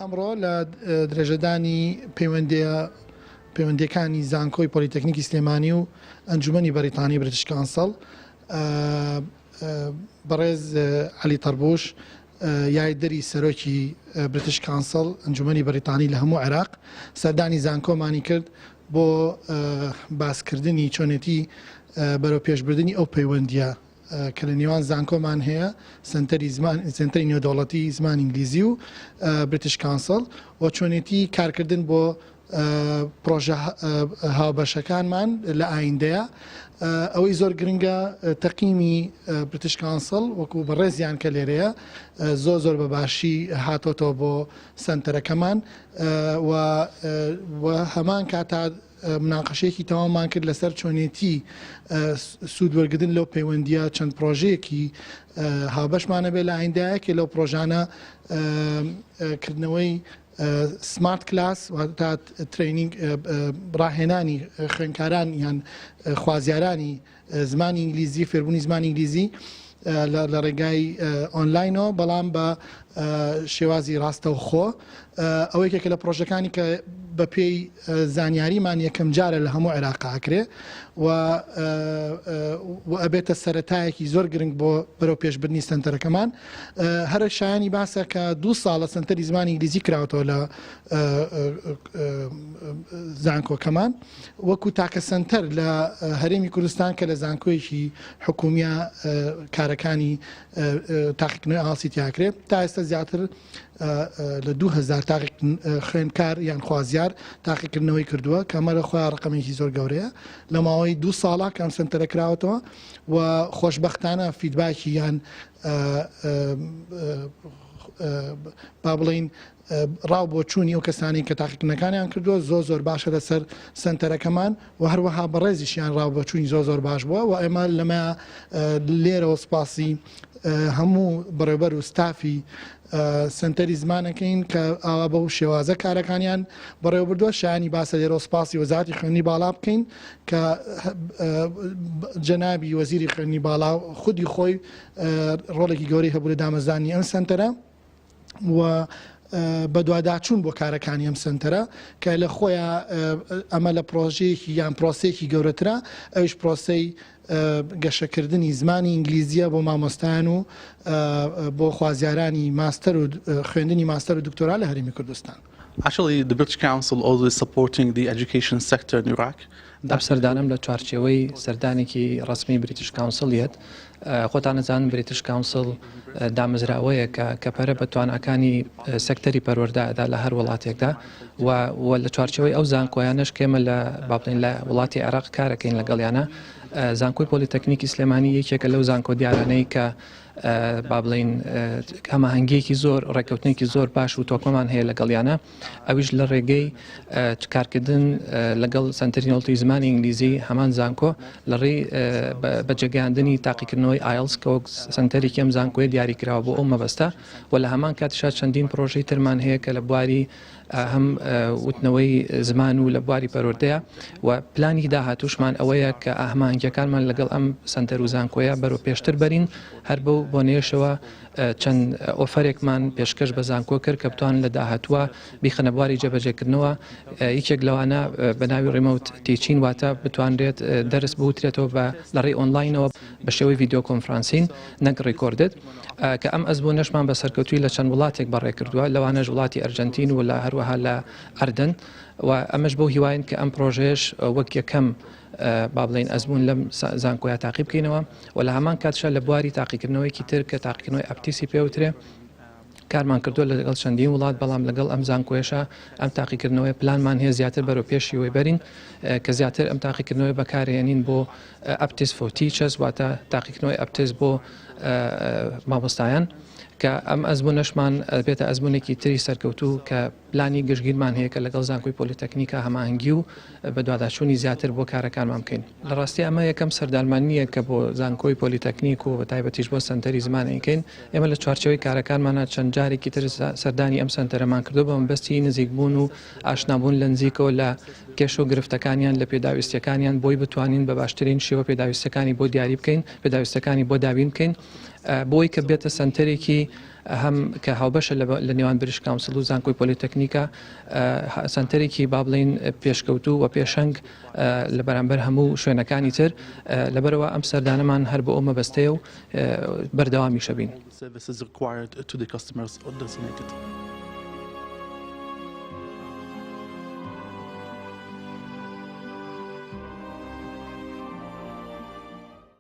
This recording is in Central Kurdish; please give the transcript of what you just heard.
ئەمڕۆ لە درێژەدانی پەیوەندە پەیوەندەکانی زانکۆی پۆلیتەکنیکی سلێمانی و ئەنجومی بەریتانی برتشکانسەڵ بەڕێز علی تەربوش یاریدەری سەرۆکی بریتش کانسڵ، ئەنجومەنی بەریتانی لە هەموو عێراق، سەردانی زانکۆمانی کرد بۆ باسکردنی چۆنێتی بەرەوپێشبردنی ئەو پەیوەندییە کە لە نێوان زانکۆمان هەیە، سەنتەری زمان، سەنتەری نێودەوڵەتی زمانی ئینگلیزی و بریتش کانسڵ و چۆنێتی کارکردن بۆ پڕۆژە هاوبەشەکانمان لە ئایندەیە. ئەوەی زۆر گرنگە تەقیمی بریتش کانسڵ وەکو بەڕێزیان کە لێرەیە زۆر زۆر بە باشی هاتۆتەوە بۆ سەنتەرەکەمان و هەمان کاتا مناقەشەیەکی تەوامان کرد لەسەر چۆنێتی سوود وەرگتن لەو پەیوەندیە چەند پرۆژەیەکی هاوبەشمانە بێ لە ئایندایەکێ لەو پرۆژانە کردنەوەی سمارت کلاس واتە ترەینینگ ڕاهێنانی خوێندکاران یان خوازیارانی زمانی ئینگلیزی فێربوونی زمانی ئینگلیزی لە ڕێگای ئۆنلاینەوە بەڵام بە شێوازی ڕاستەوخۆ ئەوەی کە لە پرۆژەکانی کە بە پێی زانیاریمان یەکەم جارە لە هەموو عێراقاکرێ و ئەبێتە سەتایەکی زۆر گرنگ بۆ بەرەو پێشببنی سنتەرەکەمان هەرە شایانی باسە کە دوو ساڵە سەنتەری زمانی ئینگلیزی کراوەتەوە لە زانکۆکەمان وەکو تاکە سەنتەر لە هەرێمی کوردستان کە لە زانکۆیەکی حکومیە کارەکانی تاقیکردنەوە ئاسی تیاکرێت تا ئێستا زیاتر لە 2000 تاقی خوێنکار یان خوازیار تاقیکردنەوەی کردووە کەمەرە خۆیان ڕقمێکی زۆر گەورەیە لە ماوەی دوو ساڵە کەم سنتەرە کراوەتەوە و خۆشبەختانە فیدباکی یان با بڵین ڕاو بۆ چوونی ئەو کەسانی کە تاقیکردنەکانیان کردووە زۆ زۆر باشە لەسەر سنتەرەکەمان و هەروەها بەڕێزیشیان ڕاو بۆ چووی زۆ زۆر باش بووە و ئێمە لەمە لێرەوە سپاسی هەموو بەڕێبەر و ستافی سەنتەری زمانەکەین کە ئاوا بەو شێوازە کارەکانیان بەڕێوەبردووە شایانی باسە لێرەوە سپاسی وەزاتی خوێندنی باڵا بکەین کە جەنابی وەزیری خوێندنی باڵا خودی خۆی ڕۆڵێکی گەوری هەبوو لە دامەزانی ئەم سنتەرە و بەدواداچوون بۆ کارەکانی ئەم سنتەرە کە لە خۆیان ئەمە لە پرۆژەیەکی یان پرۆسەیەکی گەورەترە ئەوش پرۆسی گەشەکردنی زمانی ئینگلیزییە بۆ مامۆستایان و بۆ خوازیارانی ماستەر و خوێندنی ماستەر و دکتۆرا لە هەرێمی کوردستان. Actually, the British Council always supporting the education sector in Iraq. ئەم سەردانەم لە چوارچێوەی سەردانێکی ڕەسمی بریتش کاونسڵ یەت. خۆتان ئەزانن بریتش کاونسڵ دامەزراوەیەکە کە پەرە بە تواناکانی سەکتەری پەروەردە ئەدا لە هەر وڵاتێکدا. و و لە چوارچەوەی ئەو زانکۆیانەش کێمە لە باڵین لە وڵاتی عێراق کارەکەین لەگەڵیانە زانکۆی پۆلیتەکنیکی سلێمانی یەکێکە لەو زانکۆ دیارانەی کە با بڵین هەماهنگگیەکی زۆر ڕێککەوتنێکی زۆر باش و تۆکمەمان هەیە لەگەڵیانە ئەویش لە ڕێگەی کارکردن لەگەڵ سنتەرینۆڵتی زمانی ئینگلیزی هەمان زانکۆ لە ڕێی بەجێگەاندنی تاقیکردنەوەی ئایلسکەوەک سنتەرێکم زانکۆی دیاریکراوە بۆ ئەو مەبەستە و لە هەمان کاتیشا چەندین پرۆژەی ترمان هەیە کە لە بواری هەم وتنەوەی زمان و لە بواری پەروەردەیە و پلانی داهاتوشمان ئەوەیە کە ئاهمانگیەکانمان لەگەڵ ئەم سەنتەر و زانکۆیە بەرەو پێشتر بەرین هەر بەو بۆنەیەشەوە چەند ئۆفەرێکمان پێشکەش بە زانکۆ کرد کە بتوان لە داهاتوە بیخەنە بواری جێبەجێکردنەوە یەکێک لەوانە بە ناوی ڕیمەوت تیچین واتە بتوانرێت دەرس بوترێتەوە بە لەڕێی ئۆنلاینەوە بە شێوەی ڤیدیۆ کۆنفرانسین نەک ڕیکۆردد، کە ئەم ئەزموونەشمان بە سەرکەوتووی لە چەند وڵاتێک بەڕێ کردووە، لەوانەش وڵاتی ئەرجەنتین و لە هەروەها لە ئەردەن و ئەمەش بەو هیواین کە ئەم پڕۆژەیەش وەک یەکەم با بڵێین ئەزموون لەم زانکۆیە تاقی بکەینەوە و لە هەمان کاتشا لە بواری تاقیکردنەوەیەکی تر کە تاقیکردنەوەی ئەپتیسی پێوترێ کارمان کردووە لەگەڵ چەندین وڵات، بەڵام لەگەڵ ئەم زانکۆیەشا ئەم تاقیکردنەوەیە پلانمان هەیە زیاتر بەرەو پێش شێوەی بەرین کە زیاتر ئەم تاقیکردنەوەی بەکارێنین بۆ Aptis for Teachers واتە تاقیکردنەوەی ئەپتس بۆ مامۆستایان کە ئەم ئەزمونەشمان بێتە ئەزمونێکی تری سەرکەوتوو کە پلانی گشتگیرمان هەیە کە لەگەڵ زانکۆی پۆلیتەکنیکا هەماهەنگی و بەدواداچوونی زیاتر بۆ کارەکانمان بکەین. لە ڕاستی ئەمە یەکەم سەردانمانییە کە بۆ زانکۆی پۆلیتەکنیک و بەتایبەتیش بۆ سەنتەری زمان ئەیکەین. ئێمە لە چوارچێوەی کارەکانمانا چەند جارێکی تر سەردانی ئەم سەنتەرەمان کردووە بە مەبەستی نزیکبوون و ئاشنابوون لە نزیکەوە لە کێشە و گرفتەکانیان، لە پێداویستییەکانیان بۆی بتوانین بە باشترین شێوە پێداویستییەکانی بۆ دیاری بکەین، پێداویستییەکانی بۆ دابین بکەین بۆی کە ببێتە سەنتەرێکی هەم کە هاوبەشە لە نێوان بریش کاونسڵ و زانکۆی پۆلیتەکنیکە، سەنتەرێکی با بڵێین پێشکەوتوو و پێشەنگ لە بەرامبەر هەموو شوێنەکانی تر، لەبەرئەوە ئەم سەردانەمان هەر بۆ ئەو مەبەستەیە و بەردەوامیشەبین.